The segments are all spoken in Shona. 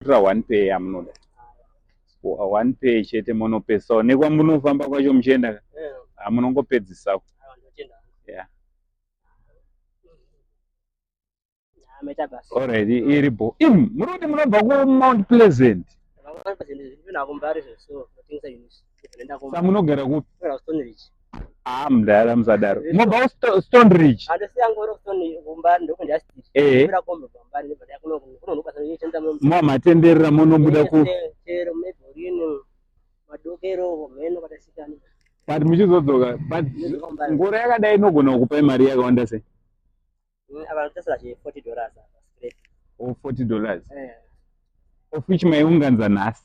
Tora one pay yamunoda. Wa- One pay chete monopesawo nekwamunofamba kwacho muchienda ka. Eh, Ah, munongopedzisako. awa ndotenda. Yeah. Ah, maita basa. Alright, iri bo. Im, muri kuti munobva ku Mount Pleasant. Vakanga vazendezvi, ndinavo mbari zveso, ndotengesa units. samunogara kupi haa ah, mdara musadaro mobva stone ridge eh. mamatenderera monobuda ku but muchizodzoka but ngoro yakadai inogona kukupai mari yakawanda sei mm, o 40 dollars eh. of which maiunganza nhasi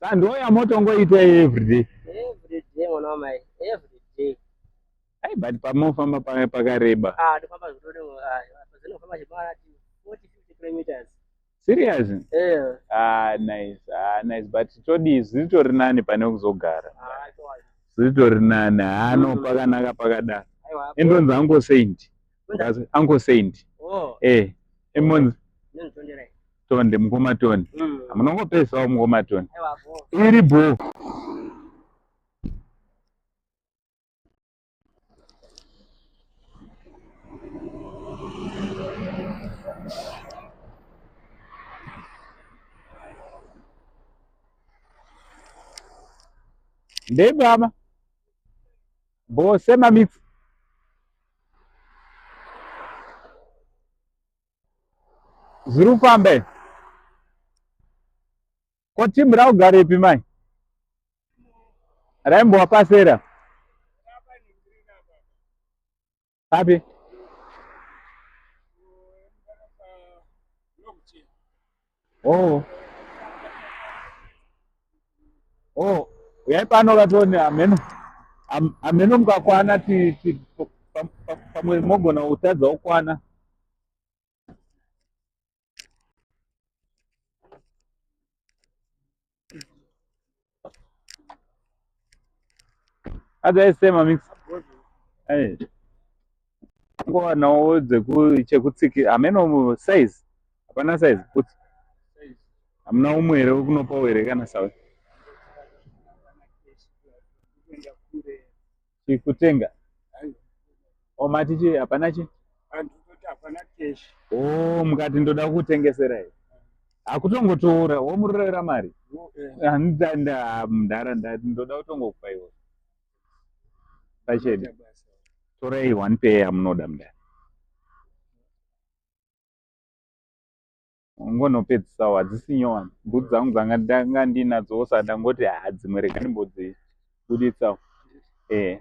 sando yamotongoita everyday everyday mwana wamai everyday ai but pamofamba pame pakareba ah ndofamba zvitode ah, zvinofamba zvimara 40 50 kilometers serious yeah. ah nice ah nice but todii zviritori nani pane kuzogara ah, zviritori nani hano ah, mm. pakanaka pakadaro endonzi uncle saint uncle saint oh. eh emonzi tonde mukoma tonde mm. munongopesawo mukoma tonde iri bho ndei baba bho sema mix zviri kufamba izvi ko timu raugarepi mai raimbowa pasera papi Oh. Oh, uyai pano vatone ameno. Am, ameno mukakwana ti, ti pamwe mogona kutadza kukwana. Otherwise same amix. Hey. Kwa na uze ku chekutsiki ameno size. Hapana size put. Amna umwe here kunopa were kana sawe. chikutenga omati oh, chi hapana chi oh, mukati ndoda kutengesera i hakutongotora womurorera mari mdara ndoda kutongokupa iwe pachedi torai one pay yamunoda mdara ungonopedzisawo hadzisi nyowani bhutsu dzangu dzanga ndanga ndinadzowo saka ndangoti haa dzimwe rega ndimbodzibuditsawo e eh,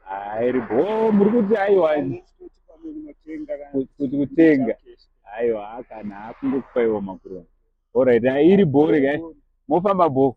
hairi bo muri kuti aiwa kuti kutenga aiwa kana akungokupaiwo makuroni orit iri bo regai mofamba bo